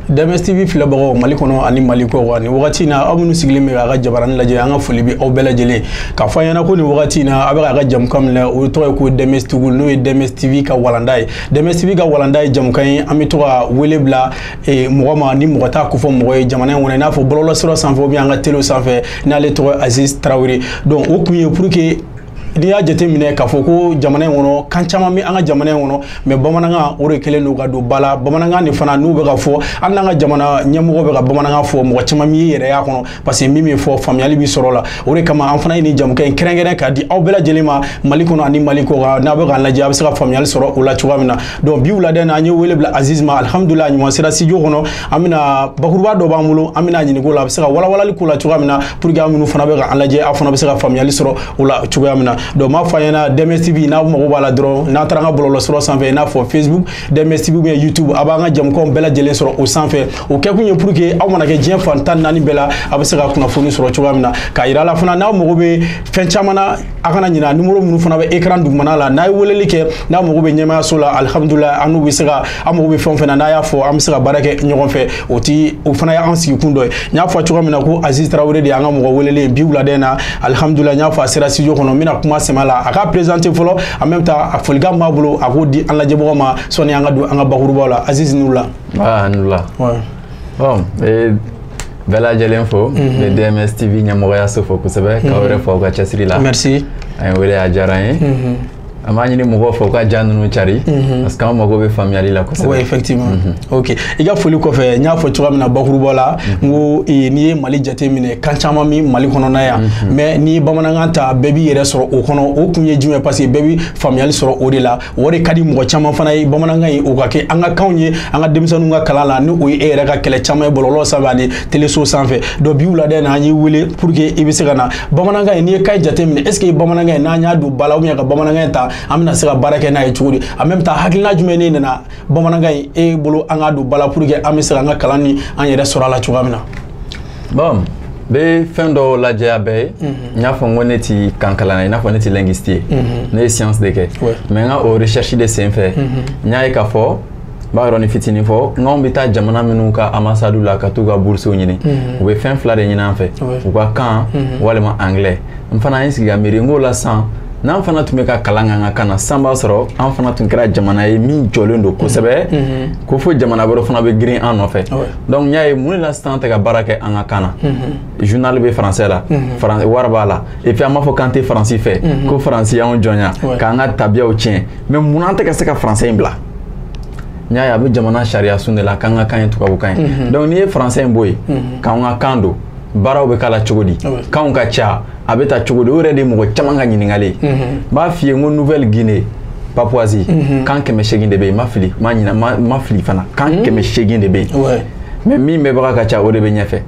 DMS TV filɛbagaw Mali kɔnɔ ani Mali kɔ wa nin wagati in na aw minnu sigilen bɛ k'a ka jabaranin lajɛ an ka foli bɛ aw bɛɛ lajɛlen k'a fɔ aw ɲɛna ko nin wagati in na aw bɛ k'a ka jamukan min lajɛ o tɔgɔ ye ko DMS TV n'o ye DMS TV ka walanda ye DMS TV ka walanda ye jamukan ye an bɛ to ka wele bila e, mɔgɔ ma ni mɔgɔ t'a kofɔ mɔgɔ ye jamana in kɔnɔ i n'a fɔ bɔlɔlɔsira sanfɛ ou bien an ka telew sanfɛ n'ale tɔgɔ ye Aziz Tarawele donc o kun ye pour que n'i y'a jate minɛ k'a fɔ ko jamana in kɔnɔ kan caman bɛ an ka jamana in kɔnɔ mais bamanankan o de kɛlen don ka don ba la bamanankan de fana n'o bɛ ka fɔ hali n'an ka jamana ɲɛmɔgɔ bɛ ka bamanankan fɔ mɔgɔ caman b'i yɛrɛ y'a kɔnɔ parce que min bɛ fɔ faamuyali bɛ sɔrɔ o la o de kama an fana ye nin jamukan in kɛrɛnkɛrɛn k'a di aw bɛɛ lajɛlen ma mali kɔnɔ ani mali kɔ kan n'a bɛ k'a lajɛ a bɛ se ka faamuyali sɔrɔ o la cogoya min na donc bi wulada in na an ye wele bila aziz ma alihamudulila a ɲuman sera studio kɔnɔ an bɛna bakuruba dɔ b'an bolo an bɛna ɲininka o la a bɛ se ka walawalali k'o la cogoya min na pour que aw minnu fana bɛ ka an lajɛ aw fana bɛ se ka faamuyali sɔrɔ o la cogoya min na donc n b'a fɔ aw ɲɛna dms tv n'a mago b'a la dɔrɔn n'a taara an ka bɔlɔlɔsira sanfɛ i n'a fɔ facebook dms tv ou bien youtube a b'an ka jamukanw bɛɛ lajɛlen sɔrɔ o sanfɛ o kɛkun ye pour que aw mana kɛ diɲɛ fan tan naani bɛɛ la a bɛ se ka kunnafoni sɔrɔ cogoya min na k'a yira aw la fana n'aw mago bɛ fɛn caman na a kana ɲina numéro minnu fana bɛ écran dugumana la n'a ye weleli kɛ n'a mago bɛ ɲɛmaayaso la alhamdulila an n'u bɛ se ka aw mago bɛ fɛn o fɛn na n'a y'a fɔ an bɛ se ka baara kɛ ɲɔgɔn fɛ o ti o fana y'an sigikun dɔ ye n y'a fɔ cogoya min na ko aziz tarawele de y'an ka mɔgɔ welelen bi wulada in na alhamdulila n y'a fɔ a sera studio kɔnɔ n bɛna kuma sɛmɛ a la a k'a présenter fɔlɔ en même temps a folikan b'a bolo a k'o di an lajɛbagaw ma sɔnni an ka don an ka bakurubaw la aziz i ni wula ah i ni wula Bon bɛɛ lajɛlen fo n bɛ DMS TV ɲɛmɔgɔyaso fo kosɛbɛ k'aw yɛrɛ fo aw ka cɛsiri la merci aw y'an wele a diyara an ye an b'a ɲini mɔgɔw fɛ u ka ja ninnu cari parce que an mago bɛ faamuyali la kosɛbɛ oui effectivement ok i ka foli kɔfɛ n y'a fɔ cogoya min na bakuruba la n ko eh, n'i ye mali jate minɛ kan caman bɛ mali kɔnɔna yan mais n'i ye bamanankan ta bɛɛ b'i yɛrɛ sɔrɔ o kɔnɔ o kun ye jumɛn ye parce que bɛɛ bɛ faamuyali sɔrɔ o de la o de ka di mɔgɔ caman fana ye bamanankan in o ka kɛ an ka kanw ye an ka denmisɛnninw ka kalan la ni o ye e yɛrɛ ka kɛlɛ caman ye bɔlɔlɔ sanfɛ ani teleso sanfɛ donc bi wulada in na an y'i wele pour que i bɛ se ka na bamanankan in n'i ye kan in jate minɛ est-ce que bamanankan in n'an y'a don ba la ka bamanankan in ta an bɛna se ka baara kɛ n'a ye cogo di en même temps hakilina jumɛn de nana bamanankan in e bolo an k'a don ba la pour que an bɛ se ka an ka kalan ni an yɛrɛ sɔrɔ a la cogoya min na bon n bɛ fɛn dɔ lajɛya bɛɛ ye n y'a fɔ n ko ne ti kankalanna ye i n'a fɔ ne ti linguiste ye ne ye science de kɛ mais n ka o recherche de senfɛ n y'a ye k'a fɔ n b'a yɔrɔnin fitinin fɔ n'anw bɛ taa jamana minnu ka ambassade la ka t'u ka boursew ɲini u bɛ fɛn fila de ɲini an fɛ u ka kan walima anglais n fana ye n sigi ka miiri n k'o la sisan n'an fana tun bɛ ka kalan k'an ka kan na sisan b'a sɔrɔ an fana tun kɛra jamana ye min jɔlen don kosɛbɛ ko fo jamana wɛrɛ fana bɛ girin an nɔfɛ dɔnku n y'a ye mun de la sisan an tɛ ka baara kɛ an ka kan na zunali bɛ faransɛ la wari b'a la epi an b'a fɔ k'an tɛ faransi fɛ ko faransi y'anw jɔnya k'an ka tabiyaw tiɲɛ mɛ mun na an tɛ ka se ka faransɛ in bila n y'a ye a bɛ jamana sariya sun de la k'an ka kan ye tubabukan ye dɔnku n'i ye faransɛ in bɔ yen k'an ka kan don baaraw bɛ k'a la cogo di kanw ka ca a bɛ ta cogo di o yɛrɛ de ye mɔgɔ caman ka ɲininkali ye n b'a f'i ye n ko nouvelle guinée papouasie kan kɛmɛ seegin de bɛ yen n ma fili n ma ɲina n ma fili fana kan kɛmɛ seegin de bɛ yen mɛ min mɛnbaga ka ca o de bɛ ɲɛfɛ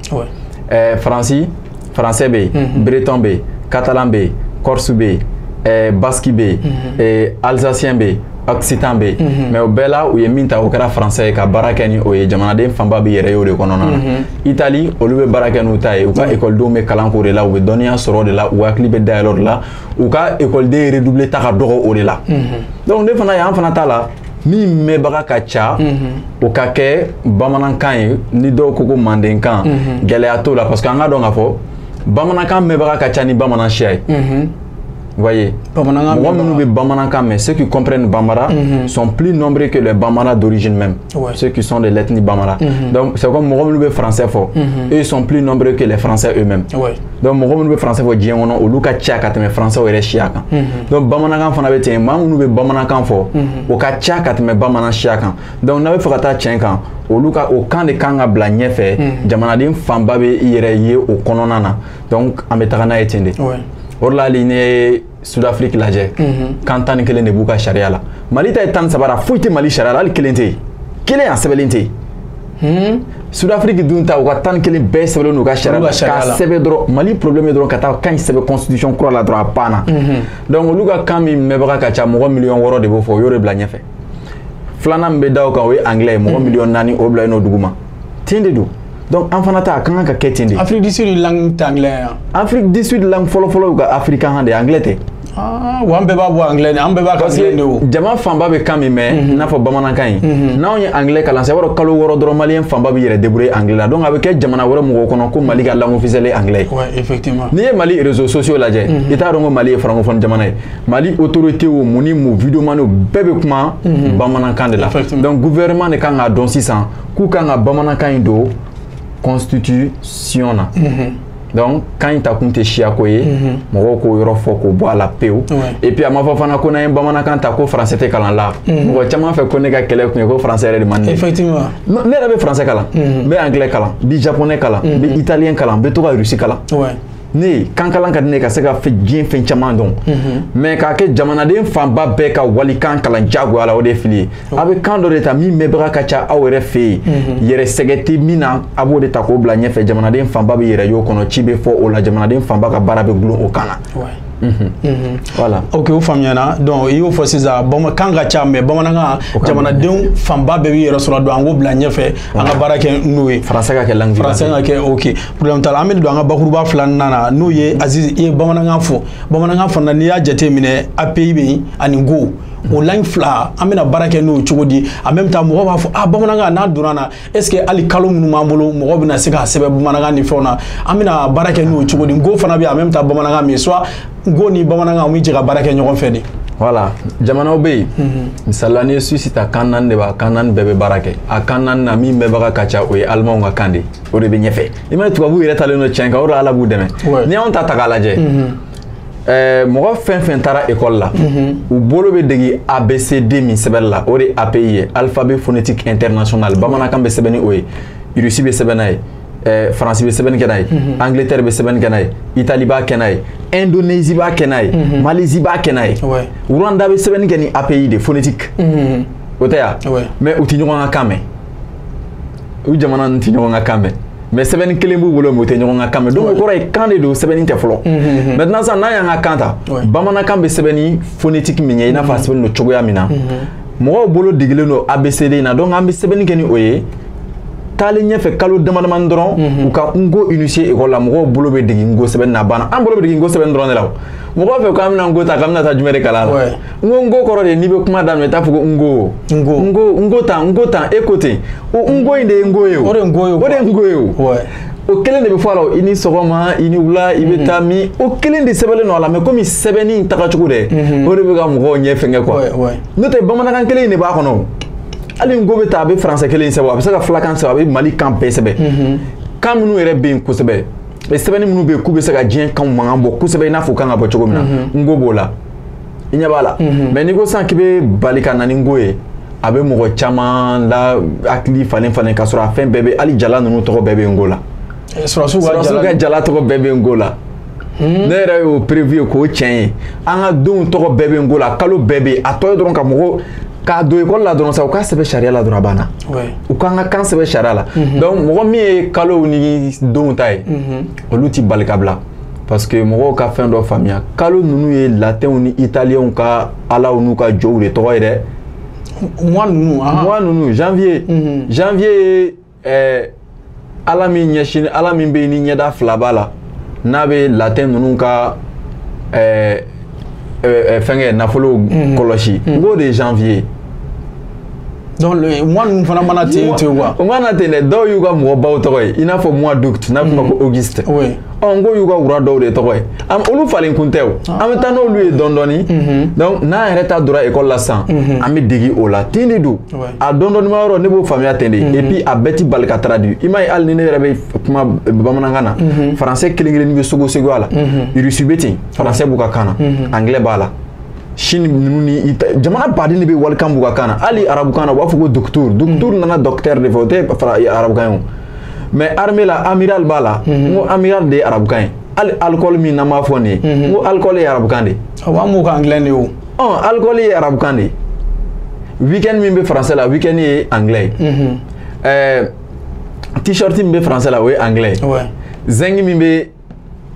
ɛɛ faransi faransɛ bɛ yen breton bɛ yen catalan bɛ yen corse bɛ yen ɛɛ basque bɛ yen ɛɛ alsacien bɛ yen occitan bɛ yen mɛ o bɛɛ la u ye min ta o kɛra faransɛ ye ka baara kɛ ni o ye jamanaden fanba bɛ yɛrɛ ye o de kɔnɔna na itali olu bɛ baara kɛ n'u ta ye u ka ekɔlidenw bɛ kalan k'o de la u bɛ dɔnniya sɔrɔ o de la u hakili bɛ dayɛlɛ o de la u ka ekɔliden redoubler ta ka dɔgɔ o de la dɔnku ne fana yan fana ta la min mɛnbaga ka ca o ka kɛ bamanankan ye ni dɔw ko ko mandenkan gɛlɛya t'o la parce que an k'a dɔn k'a fɔ bamanankan mɛnbaga ka ca ni bamanan siya ye voyez mɔgɔ minnu bɛ bamanankan mɛn ceux qui comprennent bambara sont plus nombreux que les bambara d'origine même Ouais. Ceux qui sont de l'ethnie Bambara. Mm -hmm. Donc, c'est comme mɔgɔ minnu bɛ français fɔ. Mm -hmm. Eux, ils sont plus nombreux que les Français eux-mêmes. Ouais. Donc, mɔgɔ minnu bɛ français fɔ diɲɛ kɔnɔ, olu ka ca ka tɛmɛ français yɛrɛ siya kan. Mm -hmm. Donc, Bamanakan fana bɛ ten, maa minnu bɛ Bamanakan fɔ, o ka ca ka tɛmɛ Bamanan siya kan. Donc, n'an b'a fɛ ka taa tiɲɛ kan, olu ka o kan de kan ka bila ɲɛfɛ, jamanaden fanba bɛ i yɛrɛ ye o kɔnɔna na. Donc, an bɛ taga n'a ye ten de. Ouais. O de la hali ne sudafiriki lajɛ mhm. kan tan ni kelen de b'u ka sariya la mali ta ye tan ni saba ye foyi tɛ mali sariya la hali kelen tɛ yen kelen a sɛbɛnlen tɛ yen hmm? sudafiriki dun ta u ka tan ni kelen bɛɛ sɛbɛnlen don u ka sariya la k'a sɛbɛn dɔrɔn mali problème ye dɔrɔn ka taa kan in sɛbɛn constitution kura la dɔrɔn a banna mhm. donc olu ka kan min mɛnbaga ka ca mɔgɔ miliyɔn wɔɔrɔ de b'o fɔ u y'o de bila ɲɛfɛ filanan min bɛ da o kan o ye anglais ye mɔgɔ mhm. miliyɔn naani o bila yen n'o duguma ten de don donc an fana ta a ka kan ka kɛ ten de afrique du sud langue tɛ anglais ye afrique du sud langue fɔlɔfɔlɔ y'u ka africain kan de ye anglais tɛ Ah, wa an bɛɛ b'a fɔ anglais de an bɛɛ b'a ka anglais de o jama fanba bɛ kan min mɛn mhm. i n'a fɔ bamanankan ye mhm. n'anw ye anglais kalan sa i b'a dɔn kalo wɔɔrɔ dɔrɔn maliyɛn fanba bɛ yɛrɛ débrouiller anglais la donc a bɛ kɛ jamana wɛrɛ mɔgɔw kɔnɔ ko mali ka langue officielle ye anglais ye effectivement n'i ye mali réseaux sociaux lajɛ mhm. i t'a dɔn ko mali ye francophone jamana ye mali autorité o mun ni mun videomaniw bɛɛ bɛ kuma bamanankan de la donc gouvernement de kan k'a dɔn sisan k'u kan ka bamanankan in don constitution na donc kan in takun tɛ siyako ye mɔgɔw k'o yɔrɔ fɔ k'o bɔ a la pewu et puis a ma fɔ fana ko n'an ye bamanankan ta ko français tɛ kalan la mɔgɔ caman fɛ ko ne ka kɛlɛ kun ye ko français yɛrɛ de man di effectivement ne yɛrɛ bɛ français kalan n bɛ anglais kalan n bɛ japonais kalan n bɛ italien kalan n bɛ to ka russe kalan ne ye kankalan ka di ne ka se ka diɲɛ fɛn caman dɔn mais k'a kɛ jamanaden fanba bɛɛ ka walikan kalan jagoya la o de ye fili ye a bɛ kan dɔ de ta min mɛnbaga ka ca aw yɛrɛ fɛ yen yɛrɛ sɛgɛn tɛ min na a b'o de ta k'o bila ɲɛfɛ jamanaden fanba b'i yɛrɛ y'o kɔnɔ ci bɛ fɔ o la jamanaden fanba ka baara bɛ dulon o kan na voilà ok o faamuyana donc i y'o fɔ sisan kan ka ca mais bamanankan jamanadenw fanba bɛɛ b'i yɛrɛ sɔrɔ don an k'o bila ɲɛfɛ an ka baara kɛ n'o ye français ka kɛ langue français ka kɛ ok problème t'a la an bɛ don an ka bakuruba filanan na n'o ye aziz i ye bamanankan fɔ bamanankan fana n'i y'a jateminɛ api bɛ yen ani nko o langue fila an bɛna baara kɛ n'o cogo di en même temps mɔgɔ b'a fɔ ah bamanankan n'a donna na est ce que hali kalo minnu b'an bolo mɔgɔ bɛna se k'a sɛbɛn bamanankan ni fɛnw na an bɛna baara kɛ n'o cogo di nko fana bɛ yen en même temps bamanankan min soit nko ni bamanankan u bɛ jɛ ka baara kɛ ɲɔgɔn fɛ de. voilà jamanaw bɛ yen misali la n'i ye suisse ta kan naani de b'a kan naani bɛɛ bɛ baara kɛ a kan naani na min mɛnbaga ka ca o ye alimanw ka kan de ye. o de bɛ ɲɛfɛ i m'a ye tubabu yɛrɛ talen don tiɲɛ kan o de ala b'u dɛmɛ n'i y'anw ta ta k'a lajɛ eh, mɔgɔ fɛn fɛn taara ekɔli la u bolo bɛ degi abcd min sɛbɛnni la o de ye api ye alphabet phonétique international bamanankan bɛ sɛbɛn ni o ye russie bɛ sɛbɛn n'a ye eh, faransi bɛ sɛbɛnni kɛ n'a ye angleterre bɛ sɛbɛnni kɛ n'a ye itali b'a kɛ n'a ye indonésie b'a kɛ n'a ye malaisie b'a kɛ n'a ye rwanda bɛ sɛbɛnni kɛ ni api de phonétique o tɛ ya mais u tɛ ɲɔgɔn ka kan mɛn u jamana ninnu tɛ ɲɔgɔn ka kan mɛn mais sɛbɛnni kelen b'u bolo mais u tɛ ɲɔgɔn ka kan mɛn donc o kɔrɔ ye kan de don sɛbɛnni tɛ fɔlɔ maintenant sisan n'an y'an ka kan ta bamanankan bɛ sɛbɛn ni phonétique min ye i n'a fɔ a sɛbɛnnen don cogoya min na mɔgɔw bolo degelen don abcd in na donc an bɛ sɛbɛnni kɛ ni o ye taalen ɲɛfɛ kalo damadamani dɔrɔn u ka nko initier ekɔli la mɔgɔw bolo bɛ dege nko sɛbɛnni na a banna an bolo bɛ dege nko sɛbɛnni dɔrɔn de la o mɔgɔw fɛ k'an bɛna nko ta k'an bɛna taa jumɛn de kalan a la nko nko kɔrɔ de n'i bɛ kuma daminɛ i t'a fɔ ko n ko n ko n ko n ko tan n ko tan e ko ten o n ko in de ye nko ye o o de ye nko ye o de ye nko ye o o kelen de bɛ fɔ a la i ni sɔgɔma i ni wula i bɛ taa min o kelen de sɛbɛnlen don a la mais komi sɛbɛnni in tagacogo dɛ o de bɛ ka mɔgɔw ɲɛ fɛngɛ quoi n'o tɛ bamanankan kelen in de b'a kɔnɔ hali nko bɛ taa a bɛ français kelen in sɛbɛn a bɛ se ka filakan sɛbɛn a bɛ mali kan bɛɛ sɛbɛn kan minnu yɛrɛ bɛ yen kosɛbɛ sɛbɛnni minnu bɛ yen k'u bɛ se ka diɲɛ kan mankan bɔ kosɛbɛ i n'a fɔ kan ka bɔ cogo min na nko b'o la i ɲɛ b'a la mhm. mais n'i ko sisan k'i bɛ bali ka na ni nko ye a bɛ mɔgɔ caman la hakili falen falen k'a sɔrɔ a fɛn bɛɛ bɛ hali jala ninnu tɔgɔ bɛɛ bɛ nko la eh, sɔrɔdasiw ka jala tɔgɔ bɛɛ bɛ nko la hmm. ne yɛrɛ y'o preuve ye k'o tiɲɛ ye an ka donw tɔgɔ bɛɛ bɛ nko la kalo bɛɛ bɛ yen a tɔ ye dɔrɔn ka mɔgɔ k'a don ekɔli la dɔrɔn sa u k'a sɛbɛn sariya la dɔrɔn a banna u k'an ka kan sɛbɛn sariya la mhm. donc mɔgɔ min ye kalow ni donw ta ye mhm. olu t'i bali ka bila parce que mɔgɔw ka fɛn dɔ faamuya kalo ninnu ye latɛnw ni italiyɛnw ka alaw n'u ka jow de tɔgɔ ye dɛ mois ninnu mois ninnu janvier mhm. janvier ye eh, ala min ɲɛsin ala min bɛ yen ni ɲɛda fila b'a la n'a bɛ latɛn ninnu ka eh, euh, fɛnkɛ nafolo mhm. kɔlɔsi n k'o de ye janvier donc mois ninnu fana mana ten quoi o mana ten dɛ dɔw y'u ka mɔgɔbaw tɔgɔ ye i n'a fɔ mois d'août n'a bɛ fɔ ma ko auguste ɔ n ko y'u ka roi dɔw de tɔgɔ ye olu falen kun tɛ o an bɛ taa n'olu ye dɔɔni dɔɔni donc n'an yɛrɛ ta donna ekɔli la sisan an bɛ dege o la ten de don a dɔɔni dɔɔni ma yɔrɔ ne b'o faamuya ten de et puis a bɛɛ ti bali ka traduire i m'a ye hali ni ne yɛrɛ bɛ kuma bamanankan na français kelen kelen bɛ sɔgɔ sɔgɔ a la russe bɛ ten français b'u ka kan na mhm. anglais b'a la chine ninnu ni jamana baden de bɛ walikan b'u ka kan na hali arabukan na u b'a fɔ ko docteur docteur mhm. nana docteur de fɛ o tɛ fara arabukan ye o mais armée la amiral b'a la mhm. n ko amiral de ye arabukan ye hali alcool min n'an b'a fɔ nin ye n ko alcool ye arabukan de ye awɔ an b'o kɛ anglais de ye o ɔ alcool ye arabukan de ye weekend min bɛ français la weekend ye anglais ye ɛɛ t-shirt min bɛ français la o ye anglais ye zinc min bɛ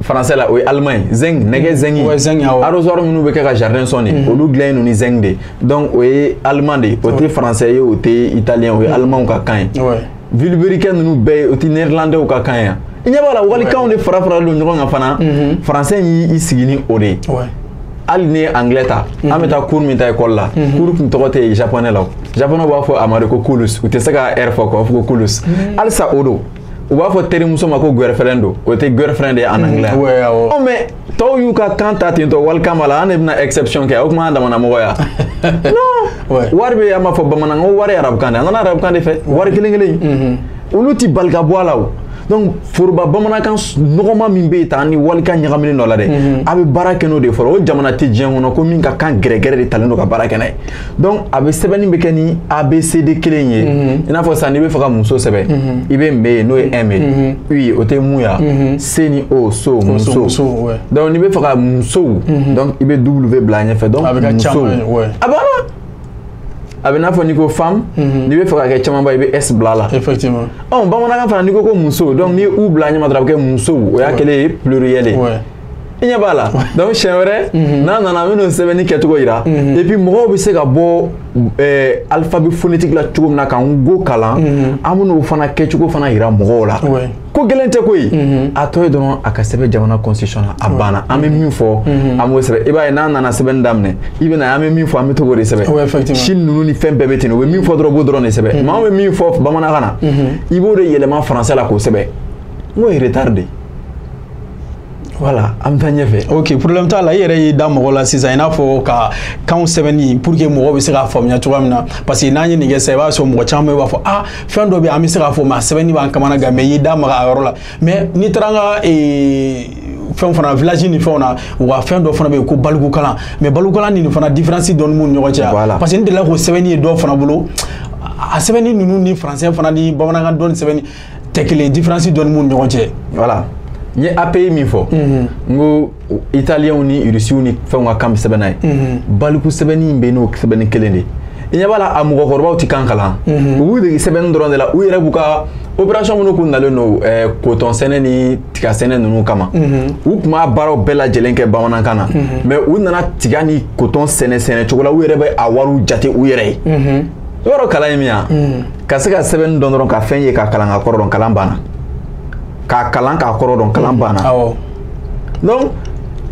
français la o ye allemand ye zinc nɛgɛ mm. zinc ouais, zinc ah arrosoir minnu bɛ kɛ ka jardin sɔn de mm. olu dilannen don ni zinc de donc o ye allemand de ye o tɛ français ye o tɛ italien o ye mm. allemand ka kan ye vilebrequin ninnu bɛɛ ye o tɛ néerlandais ka kan ye i ɲɛ b'a la walikanw de fara faralen don ɲɔgɔn kan fana mm-hmm. français y'i sigi ni o de ye hali ni anglais ta mm-hmm. an bɛ taa cours min ta école la mm-hmm. cours dun tɔgɔ tɛ japonais la o japonais b'a fɔ a ma de ko kulus u tɛ se ka r fɔ quoi u b'a fɔ ko kulus halisa o don u b'a fɔ terimuso ma ko girlfriend don o tɛ girlfriend de ye en anglais ɔ mais tɔw y'u ka kan ta ten tɔ walikan b'a la an de bɛna exception kɛ o tuma an damana mɔgɔ ya non wari bɛ an b'a fɔ bamanankan ko wari ye arabukan de ye a nana arabukan de fɛ wari kelen kelen in olu ti bali ka bɔ a la o donc foroba bamanankan nɔgɔma min bɛ yen tan ni walikan ɲagaminen dɔ la dɛ a bɛ baara kɛ n'o de ye fɔlɔ o jamana tɛ diɲɛ kɔnɔ ko min ka kan gɛrɛgɛrɛ de talen don ka baara kɛ n'a ye donc a bɛ sɛbɛnni bɛ kɛ ni abcd kelen in ye mhm. i n'a fɔ sisan n'i bɛ fɛ ka muso sɛbɛn mhm. i bɛ me ye n'o ye m ye mhm. u ye o tɛ mu ya s ni o so muso donc n'i bɛ fɛ ka musow donc i bɛ w bila a ɲɛfɛ donc musow a banna a bɛ i n'a fɔ n'i ko femme n'i bɛ fɛ ka kɛ camanba i bɛ s bila a la effectivement ɔ bamanankan fana n'i ko ko muso donc n'i ye u bila a ɲɛma dɔrɔn a bɛ kɛ musow o y'a kɛlen ye pluriel ye i ɲɛ b'a la donc siɲɛ wɛrɛ mhm. n'a nana an bɛn'o sɛbɛnni kɛcogo yira mhm. et puis mɔgɔw bɛ se ka bɔ eh, alphabet phonétique la cogo min na ka n'ko kalan mhm. an bɛn'o fana kɛcogo fana yira mɔgɔw la ko gɛlɛn tɛ koyi a tɔ ye dɔrɔn a ka sɛbɛn jamana constitution na a banna an bɛ min fɔ an b'o sɛbɛn i b'a ye n'a nana sɛbɛnni daminɛ i bɛna an bɛ min fɔ an bɛ to k'o de sɛbɛn chine ninnu ni fɛn bɛɛ bɛ ten u bɛ min fɔ dɔrɔn u b'o dɔrɔn de sɛbɛn maa bɛ min fɔ bamanankan na i b'o de yɛlɛma français la k'o sɛbɛn n k'o ye retard de ye voilà an bɛ taa ɲɛfɛ ok problème t'a la i yɛrɛ y'i da maga a la sisan i n'a fɔ ka kanw sɛbɛnni pour que mɔgɔw bɛ se k'a faamuya cogoya min na parce que n'an ye nin kɛ sisan i b'a sɔrɔ mɔgɔ caman b'a fɔ ah fɛn dɔ bɛ yen an bɛ se k'a fɔ mais a sɛbɛnni b'an kamana gan mais i y'i da maga a yɔrɔ la mais n'i taara an ka ee fɛn fana village ni fɛnw na u ka fɛn dɔ fana bɛ yen ko balikukalan mais balikukalan ni nin fana différence dɔɔni b'u ni ɲɔgɔn cɛ voilà. parce que n delila k'o sɛbɛnni ye dɔw fana bolo a sɛbɛnni ninnu ni français fana ni bamanankan dɔɔni sɛbɛnni tɛ kelen différence dɔɔni b'u ni ɲɔgɔn cɛ voilà n ye API min fɔ mhm. n ko italiyɛnw ni irisiw ni fɛnw ka kan bɛ sɛbɛn n'a ye mhm. baliku sɛbɛnni in bɛ n'o sɛbɛnni kelen de i ɲɛ b'a la a mɔgɔkɔrɔbaw tɛ kan kalan mhm. u b'u dege sɛbɛnni dɔrɔn de la u yɛrɛ b'u ka opération minnu kun nalen don eh, coton sɛnɛ ni tiga sɛnɛ ninnu kama u tun b'a baaraw bɛɛ lajɛlen kɛ bamanankan na mais u nana tiga ni coton sɛnɛ cogo la u yɛrɛ bɛ a wariw jate u yɛrɛ ye i b'a dɔn kalan ye min ye wa ka se ka sɛbɛnni dɔn dɔrɔn ka fɛn ye k'a kalan k'a kɔrɔ dɔn kalan banna k'a kalan k'a kɔrɔ dɔn kalan mhm. banna donc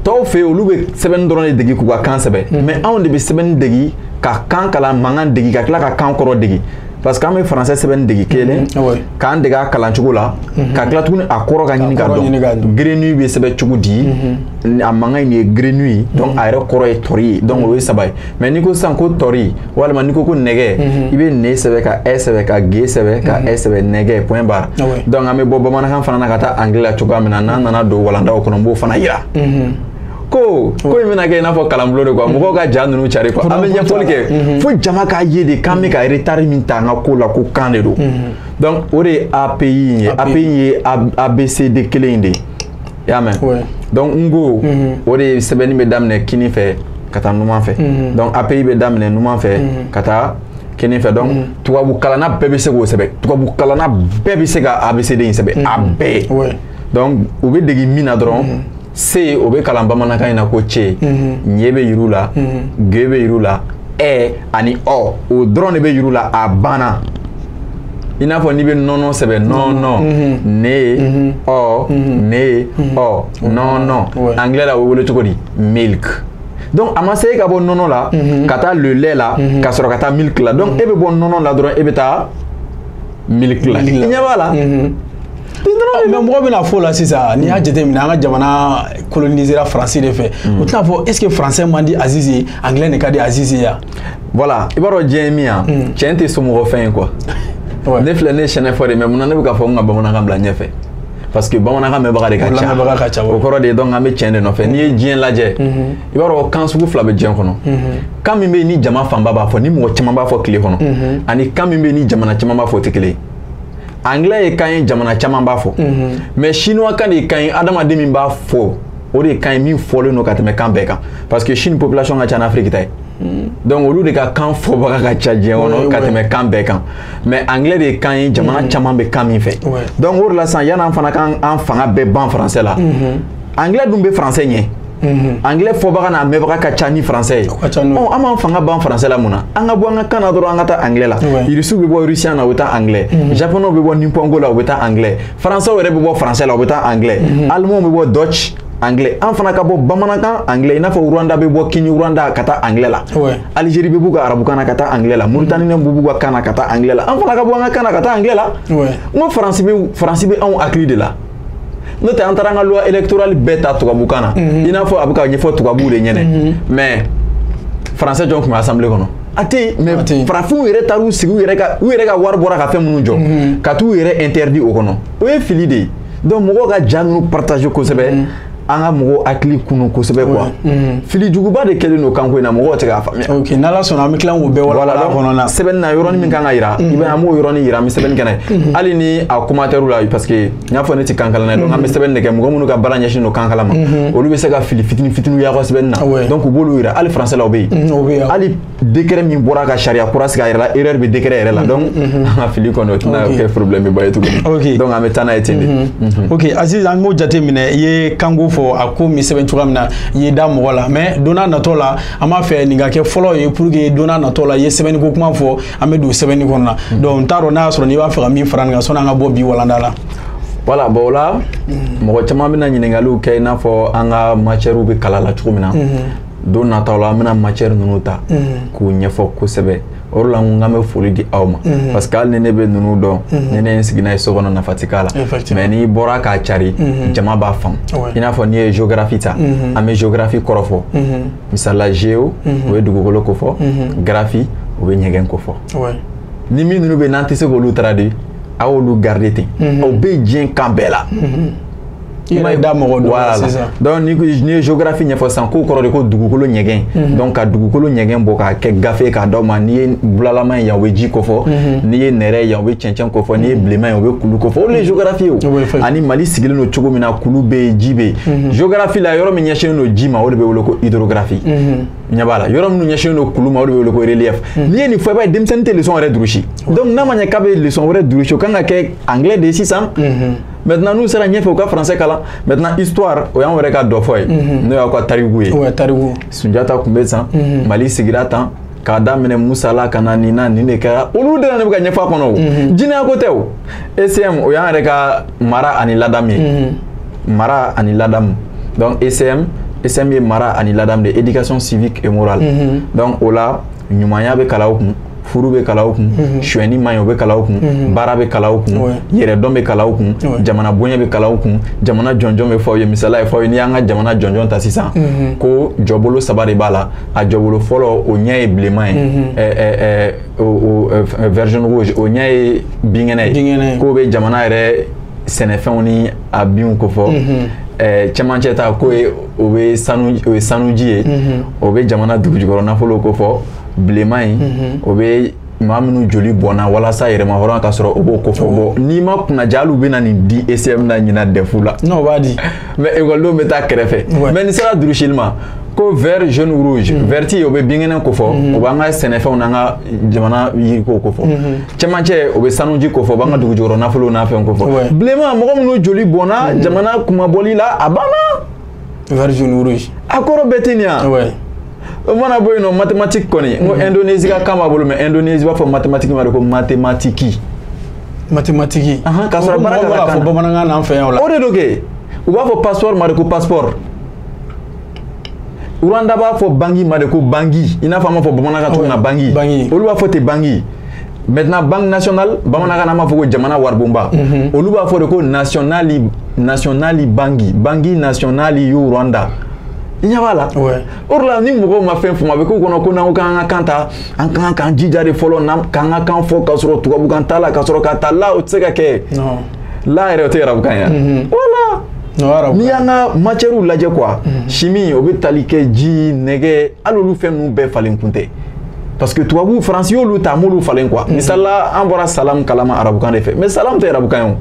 tɔw fɛ yen olu bɛ sɛbɛnni dɔrɔn de degi k'u ka kan sɛbɛn mhm. mais anw de bɛ sɛbɛnni degi ka kan kalan mankan degi ka tila ka kan kɔrɔ degi parce que an bɛ français sɛbɛnni degi kelen mhm. k'an dege a kalan cogo la ka tila tuguni a kɔrɔ ka ɲini ka dɔn grenouille bɛ sɛbɛn cogo di a mankan in ye grenouille ye donc a yɛrɛ kɔrɔ ye tɔri ye donc o ye saba ye mais n'i ko sisan ko tɔri walima n'i ko ko nɛgɛ i bɛ ne sɛbɛn ka ɛ sɛbɛn ka g sɛbɛn ka ɛ sɛbɛn nɛgɛ point barre donc an bɛ bɔ bamanankan fana na ka taa anglais la cogoya min na n'an nana don walandaw kɔnɔ n b'o fana yira ko ko in bɛna kɛ i n'a fɔ kalanbulon de quoi mɔgɔw ka ja ninnu cari quoi an bɛ ɲɛfɔli kɛ fo jama k'a ye de k'an bɛ ka retard min ta an ka ko la ko kan de don donc o de ye API in ye API in ye ABCD kelen in de ye i y'a mɛn donc n'ko mhm. o de sɛbɛnni bɛ daminɛ kini fɛ ka taa numan fɛ mhm. donc API bɛ daminɛ numan fɛ mhm. ka taa kini fɛ donc tubabu kalanna bɛɛ bɛ se k'o sɛbɛn tubabu kalanna bɛɛ bɛ se ka ABCD in sɛbɛn a bɛɛ donc u bɛ dege min na dɔrɔn C o bɛ kalan bamanankan in na ko ce ɲɛ bɛ yir'u la ŋe bɛ yir'u la ɛ ani ɔ o dɔrɔn de bɛ yir'u la a banna i n'a fɔ n'i bɛ nɔnɔ sɛbɛn nɔnɔ ne ɔ ne ɔ nɔnɔ anglais la o bɛ wele cogo di milk donc a ma se e ka bɔ nɔnɔ la ka taa le lait la ka sɔrɔ ka taa milk la donc e bɛ bɔ nɔnɔ la dɔrɔn e bɛ taa milk la i ɲɛ b'a la. mais mɔgɔ bɛna fɔ la sisan n'i y'a jateminɛ an ka jamana colonisera faransi de fɛ u tɛna fɔ est ce que français man di Azizi ye anglais de ka di Azizi ye voilà i b'a dɔn diɲɛ ye min ye tiɲɛ tɛ somɔgɔ fɛn ye quoi ne filɛ ne ye sɛnɛfɔ de mais mun na ne bɛ k'a fɔ n ka bamanankan bila ɲɛfɛ parce que bamanankan mɛnbaga de ka ca o kɔrɔ de ye donc an bɛ tiɲɛ de nɔfɛ n'i ye diɲɛ lajɛ i b'a dɔn kan sugu fila bɛ diɲɛ kɔnɔ kan min bɛ yen ni jama fanba b'a fɔ ni mɔgɔ caman b'a fɔ tile kɔnɔ ani kan min bɛ yen ni jamana caman b'a fɔ o tɛ kelen ye anglais ye kan ye jamana caman b'a fɔ mhm. mais chinois kan de ye kan ye adamaden min b'a fɔ o de ye kan ye min fɔlen don ka tɛmɛ kan bɛɛ kan parce que chine population ka ca n'afiriki ta ye mhm. donc olu de ka kan fɔbaga ka ca diɲɛ kɔnɔ ka tɛmɛ kan bɛɛ kan mais anglais de ye kan ye jamana mhm. caman bɛ kan min fɛ donc o de la sisan yan'an fana k'an fanga bɛɛ ban français la anglais dun bɛ français ɲɛ mhm. anglais fɔbaga n'a mɛnbaga ka ca ni français ye an b'an fanga ban français la mun na an ka bɔ an ka kan na dɔrɔn an ka taa anglais la irisiw bɛ bɔ russian na u bɛ taa anglais mhm. japonɛw bɛ bɔ nipongo la u bɛ taa anglais français yɛrɛ bɛ bɔ français la u bɛ taa anglais mhm. allemanw bɛ bɔ deutsch anglais an fana ka bɔ bamanankan anglais i n'a fɔ rwanda bɛ bɔ kinyarwanda ka taa anglais la algérie bɛ b'u ka arabukan na ka taa anglais la mauritanie bɛ b'u ka kan na ka taa anglais la an fana ka bɔ an ka kan na ka taa anglais la n ko faransi bɛ faransi bɛ anw hakili de la n'o tɛ an taara an ka loi électorale bɛɛ ta tubabukan na i n'a fɔ a bɛ ka ɲɛfɔ tubabuw de ɲɛnɛ mais français jɔn tun bɛ assemblée kɔnɔ a tɛ yen mais farafinw yɛrɛ taar'u sigi u yɛrɛ ka wari bɔra ka fɛn minnu jɔ ka t'u yɛrɛ interdit o kɔnɔ o ye fili de ye donc mɔgɔw ka ja ninnu partager kosɛbɛ an ka mɔgɔw hakili kunu kosɛbɛ quoi mm. fili juguba de kɛlen don kanko in na mɔgɔw tɛ k'a faamuya ok n'ala sɔnna an bɛ tila k'o bɛɛ walawala kɔnɔ na sɛbɛnni na yɔrɔnin min kan ka yira mm. i bɛ an b'o yɔrɔnin yira an bɛ sɛbɛnni kɛ n'a ye mm. hali ni a commentaire la parce que n y'a fɔ ne tɛ kankalan na donc an bɛ sɛbɛnni de kɛ mɔgɔ minnu ka baara ɲɛsin don kankalan ma mm-hmm. olu bɛ se ka fili fitini fitiniw y'a ka sɛbɛnni na donc u b'olu yira hali français la o bɛ yen hali décret min bɔra ka sariya kura sigi a yɛrɛ la erreur bɛ décret yɛrɛ la mm-hmm, donc mm-hmm. an ka fili kɔni o tɛna kɛ problème ba ye tuguni donc an bɛ taa n'a ye ten de. Mm-hmm. ok Aziz an b'o jate minɛ i ye kanko fɔ a ko min sɛbɛn cogoya min na i ye da maga a la mais don n'a natɔ la an b'a fɛ nin ka kɛ fɔlɔ ye pour que don n'a natɔ la i ye sɛbɛnni ko kuma fɔ an bɛ don sɛbɛnni kɔnɔ na donc n t'a dɔn n'a y'a sɔrɔ n'i b'a fɛ ka min fara nin kan sɔnni an ka bɔ bi walanda la. voilà bon o la mɔgɔ caman bɛna ɲininkaliw kɛ i n'a fɔ an ka matièrew bɛ kalan la cogo min na don nata la an bɛna matière ninnu ta k'u ɲɛfɔ kosɛbɛ o la ko an bɛ foli di aw ma parce que hali ni ne bɛ ninnu dɔn ni ne ye n sigi n'a ye so kɔnɔ nafa tɛ k'a la mais n'i bɔra k'a cari jama b'a faamu i n'a fɔ n'i ye géographie ta an bɛ géographie kɔrɔfɔ misali la géo o bɛ dugukolo ko fɔ graphie o bɛ ɲɛgɛn ko fɔ ni min ninnu bɛ n'an tɛ se k'olu traduire aw y'olu garder ten o bɛ diɲɛ kan bɛɛ la i ma da mɔgɔ don voilà sisan donc n'i ye géographie ɲɛfɔ sisan k'o kɔrɔ de ko dugukolo ɲɛgɛn mhm. donc ka dugukolo ɲɛgɛn bɔ k'a kɛ gafe k'a d'aw ma n'i ye bulalama ye yan o bɛ ji kofɔ mhm. n'i ye nɛrɛ ye yan o bɛ cɛncɛn kofɔ n'i ye mhm. bilenman ye o bɛ kulu kofɔ o de ye géographie ye ani mali sigilen don cogo min na kulu bɛ yen ji bɛ yen géographie la yɔrɔ min ɲɛsinnen don ji ma o de bɛ wele ko hydrographie ɲɛ b'a la yɔrɔ minnu ɲɛsinnen don kulu ma o de bɛ wele ko relief n'i ye nin fɔ i b'a ye denmisɛnnin tɛ leçon yɛrɛ durusi donc n'a ma ɲɛ k'a bɛ leçon wɛrɛ durusi o kan ka kɛ anglais de ye sisan maintenant n'u sera ɲɛfɛ u ka français kalan maintenant histoire o y'an yɛrɛ ka dɔfɔ ye mhm. n'o y'aw ka tariku ye sunjata tun bɛ san mhm. mali sigira tan k'a daminɛ musa la ka na nin na nin de kɛra olu de na ne bɛ ka ɲɛfɔ a kɔnɔ o mhm. jinɛya ko tɛ o ecm o y'an yɛrɛ ka mara ani ladamu ye mara ani ladamu donc ecm ecm ye mara ani ladamu de éducation civique et morale donc o la ɲumanya bɛ kalan o kun furu bɛ kalan o kun mhm. suɲɛni man ɲi o bɛ kalan o kun mhm. baara bɛ kalan o kun yɛrɛdɔn bɛ kalan o kun jamana bonya bɛ kalan o kun jamana jɔnjɔn bɛ fɔ ye misala ye fɔ ye n'i y'an ka jamana jɔnjɔn ta sisan mhm. ko jɔbolo saba de b'a la a jɔbolo fɔlɔ o ɲɛ ye bilenman ye vrizɔn o ɲɛ ye binkɛnɛ ye k'o bɛ jamana yɛrɛ sɛnɛfɛnw ni a binw ko fɔ Eh, cɛmancɛ ta k'o ye o bɛ sanu o ye sanuji ye o bɛ jamana dugujukɔrɔ nafolo ko fɔ bilenman in mhm. o bɛ maa minnu joli bɔnna walasa yɛrɛmahɔrɔnya ka sɔrɔ o b'o ko fɔ bɔ n'i ma kunnaja hali u bɛ na nin di ECM na ɲinan dɛfu la n'o b'a di mais ekɔlidenw bɛ taa kɛrɛfɛ mais nin sera durusili ma ko vert jaune rouge mhm. verti o bɛ binkɛnɛ ko fɔ mhm. o b'an ka sɛnɛfɛnw n'an ka jamana yiriko ko fɔ cɛmancɛ o bɛ sanuji ko fɔ o b'an ka dugujukɔrɔ nafolow n'a fɛnw ko fɔ bilenman mɔgɔ minnu joli bɔnna jamana kunmabɔli la a banna vert jaune rouge a kɔrɔ bɛɛ tɛ nin ye wa ouais o mana bɔ yen nɔ mathématique kɔni n ko mm-hmm. indonésie ka kan b'a bolo mais indonésie b'a fɔ mathématique ma de ko mathématique mathématique k'a sɔrɔ baara ka kan na fɔ bamanankan na an fɛ yan o la o de don kɛ u b'a fɔ passeport ma de ko passeport Rwanda b'a fɔ bangi ma de ko bangi i n'a fɔ an b'a fɔ bamanankan cogo min na bangi olu b'a fɔ ten bangi Maintenant banque nationale bamanankan b'a fɔ ko jamana waribonba olu b'a fɔ de ko nasonali bangi bangi nasonali y'u Rwanda i ɲɛ b'a la o la ni mɔgɔw ma fɛn faamu a bɛ k'u kɔnɔ ko n'an ko k'an ka kan ta an ka kan k'an jija de fɔlɔ k'an ka kan fɔ k'a sɔrɔ tubabukan t'a la ka sɔrɔ ka taa la o tɛ se ka kɛ la yɛrɛ o tɛ arabukan ye voilà n'i y'an ka matièrew lajɛ quoi chimie o bɛ tali kɛ ji nɛgɛ hali olu fɛn ninnu bɛɛ falen kun tɛ parce que tubabu faransi y'olu ta m'olu falen quoi misali la an bɔra salam kala ma arabukan de fɛ mais salam tɛ arabukan ye o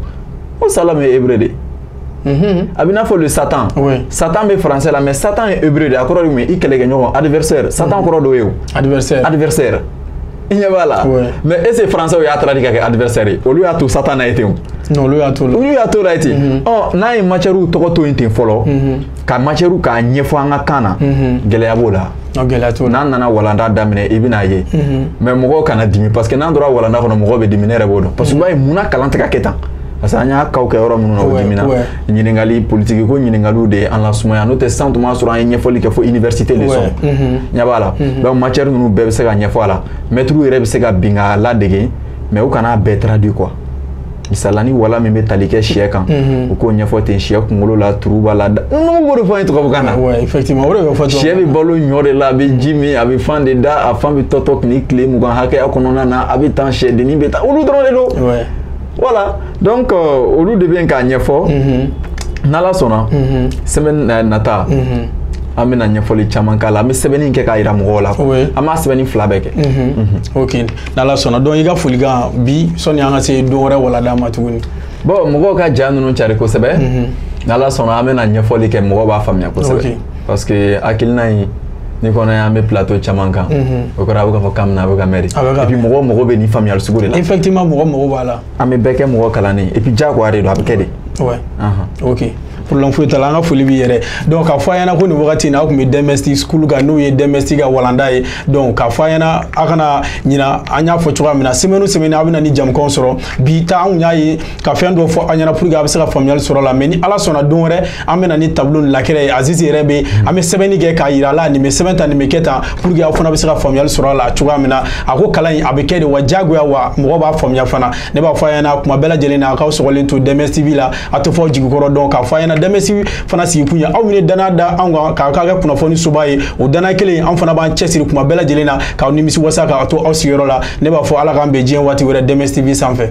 ko salam ye hébreu de ye a b'i n'a fɔ le satan satan bɛ français la mais satan ye hébreu de ye a kɔrɔ de mun ye i kɛlɛkɛɲɔgɔn adversaire satan kɔrɔ dɔ ye o adversaire adversaire i ɲɛ b'a la mais est ce que français y'a traduit ka kɛ adversaire ye olu y'a to satan na ye ten o olu y'a to la olu y'a to la ye ten ɔ n'an ye matière tɔgɔ to yen ten fɔlɔ ka matière k'a ɲɛfɔ an ka kan na gɛlɛya b'o la n'an nana walanda daminɛ i bɛn'a ye mhm. mais mɔgɔw kana dimi parce que n'an tora walanda kɔnɔ mɔgɔw bɛ dimi ne yɛrɛ b'o dɔn parce que i b'a ye munna kalan tɛ ka kɛ tan parce que an y'a kaw kɛ yɔrɔ minnu na o dimina ɲininkali politiki ko ɲininkaliw de an lasumaya n'o tɛ san tun b'a sɔrɔ an ye ɲɛfɔli kɛ fo université leçon mhm. ɲɛ b'a la mhm. donc matière ninnu bɛɛ bɛ se ka ɲɛfɔ a la mɛtiriw yɛrɛ bɛ se ka bin k'a ladege mais u kana bɛɛ traduit quoi misala ni wala min bɛ tali kɛ sɛ kan u k'o ɲɛfɔ ten sɛ kunkolo la turu b'a la n'u b'o de fɔ an ye tubabukan na sɛ bɛ balo ɲɔ de la a bɛ ji min a bɛ fan de da a fan bɛ tɔtɔ tile tile mugan hakɛya kɔnɔna na a bɛ tan sɛdennin bɛ taa olu dɔrɔn de don voilà donc euh, olu de bɛ k'a ɲɛfɔ n'ala sɔnna semaine euh, nata an bɛna ɲɛfɔli caman k'a la an bɛ sɛbɛnni kɛ k'a yira mɔgɔw la an b'a sɛbɛnni fila bɛɛ kɛ ok n'ala sɔnna donc i ka folikan bi sɔni an ka se don wɛrɛ walanda ma tuguni bon mɔgɔw ka ja ninnu cari kosɛbɛ mhm. n'ala sɔnna an bɛna ɲɛfɔli kɛ mɔgɔw b'a faamuya kosɛbɛ parce que hakilina in ni kɔnɔ y'an bɛ plateau caman kan mhm. o kɔrɔ a bɛ k'a fɔ k'an bɛna a bɛ ka mɛri et puis mɔgɔ mago bɛ nin faamuyali sugu de la effectivement mɔgɔ mago b'a la an bɛ bɛɛ kɛ mɔgɔ kalannen et puis diyagoya de don a bɛ kɛ de ok problème foyi t'a la an ka foli b'i yɛrɛ donc k'a fɔ a ɲɛna ko nin wagati in na aw tun bɛ DMS school kan n'o ye DMS ka walanda ye donc k'a fɔ a ɲɛna a kana ɲina an y'a fɔ cogoya min na semaine o semaine a bɛ na ni jamukanw sɔrɔ bi ta anw y'a ye ka fɛn dɔ fɔ a ɲɛna pour que a bɛ se ka faamuyali sɔrɔ a la mais ni ala sɔnna don wɛrɛ an bɛ na ni tableau ni lakɛrɛ ye azizi yɛrɛ bɛ an bɛ sɛbɛnni kɛ k'a yira a la nin bɛ sɛbɛn tan nin bɛ kɛ tan pour que aw fana bɛ se ka faamuyali sɔrɔ a la cogoya min na a ko kalan in a bɛ kɛ de wa diyagoya wa mɔgɔ b'a faamuya fana ne b'a fɔ a ɲɛna kuma bɛɛ lajɛlen na a k'aw sɔgɔlen to DMS TV la a tɛ fɔ aw jigi kɔrɔ donc k'a fɔ a ɲɛna DMS fana sigikun ye aw min ye dannaya da anw kan k'a k'a kɛ kunnafoni soba ye o dannaya kelen an fana b'an cɛsiri kuma bɛɛ lajɛlen na k'aw nimisi wasa k'a to aw sigiyɔrɔ la ne b'a fɔ ala k'an bɛn diɲɛ waati wɛrɛ DMS TV sanfɛ